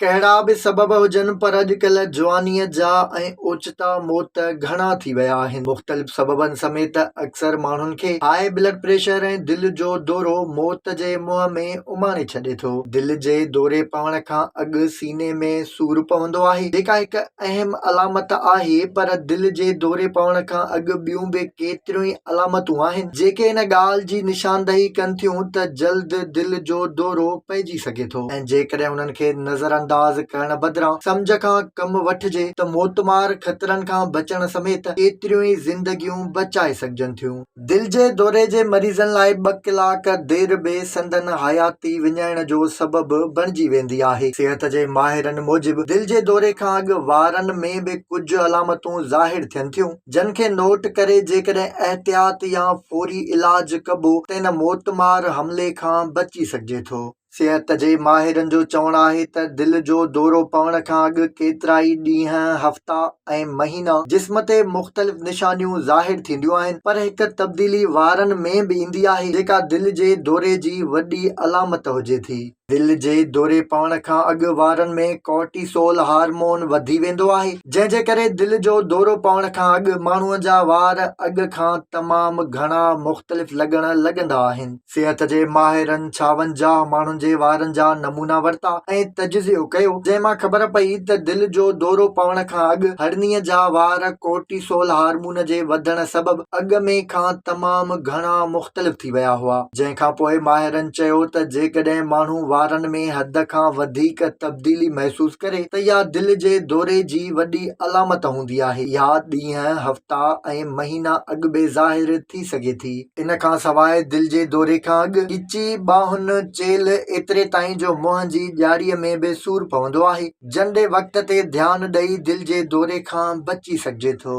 ڪهڙا به سبب هجن پر اڄڪلهه جوانيء جا ۽ اوچتا موت گهڻا ٿي ويا آهن. مختلف سببن سميت اڪثر ماڻهن کي هاء بلڊ پريشر ۽ دل جو دورو موت جي منهن ۾ اماڻي ڇڏي ٿو. دل جي دوري پوڻ کان اڳ سيني ۾ سور پوندو آهي جيڪا هڪ اهم علامت آهي پر دل جي دوري پوڻ کان اڳ ٻيون به ڪيتريون ئي علامتون آهن جيڪي ان ڳالهه جي نشاندهي ڪن ٿيون ته جلد دل جو دورو پئجي سگهي ٿو. جيڪڏهن انهن کي نظرانداز ڪرڻ بدران سمجهه کان ڪم وٺجي ته موتمار خطرن کان بچڻ سميت ڪيتريون ئي زندگيون بچائي سگهجن ٿيون. دل جي دوري جي مريضن لاء ٻه ڪلاڪ دير به سندن حياتي وڃائڻ جو سبب بڻجي ويندي آهي. صحت جي ماهرن موجب دل جي دوري کان اڳ وارن ۾ به ڪجهه علامتون ظاهر ٿين ٿيون جن کي نوٽ ڪري جيڪڏهن احتياط يا فوري علاج ڪبو تنهن موتمار حملي کان بچي سگهجي ٿو. صحت جي ماهرن جو چوڻ آهي ته دل جو دورو پوڻ کان اڳ ڪيترائي ڏينهن، هفتا ۽ مهينا جسم تي مختلف نشانيون ظاهر ٿينديون آهن پر هڪ تبديلي وارن ۾ به ايندي آهي جيڪا دل جي دوري جي وڏي علامت هجي ٿي. دل جي دوري پوڻ کان اڳ وارن ۾ ڪورٽيسول هارمون وڌي ويندو آهي جنهن جي ڪري دل جو دورو پوڻ کان اڳ ماڻهو جا وار اڳ کان تمام گهڻا مختلف لڳڻ لڳندا آهن. صحت جي ماهرن ڇاونجاهه ماڻهن جي وارن جا نمونا ورتا ۽ تجزيو ڪيو، جنهن مان خبر پئي ته دل جو دورو پوڻ کان اڳ هرنيء جا وار ڪورٽيسول هارمون جي وڌڻ سبب اڳ ۾ کان تمام گهڻا مختلف ٿي ويا هئا، جنهن کان پوء ماهرن چيو ته جيڪڏهن ماڻهو وارن ۾ حد کان وڌيڪ تبديلي محسوس ڪري ته اها دل جي دوري جي وڏي علامت هوندي آهي، اها ڏينهن، هفتا ۽ مهينا اڳ به ظاهر ٿي سگهي ٿي. ان کان سواء دل جي دوري کان اڳ ڳچي، ٻانهن، چيلهه ايتري تائين جو منهن جي ڄاڙيء ۾ به سور پوندو آهي. جنڊي وقت تي ڌيان ڏئي دل جي دوري کان بچي سگهجي ٿو.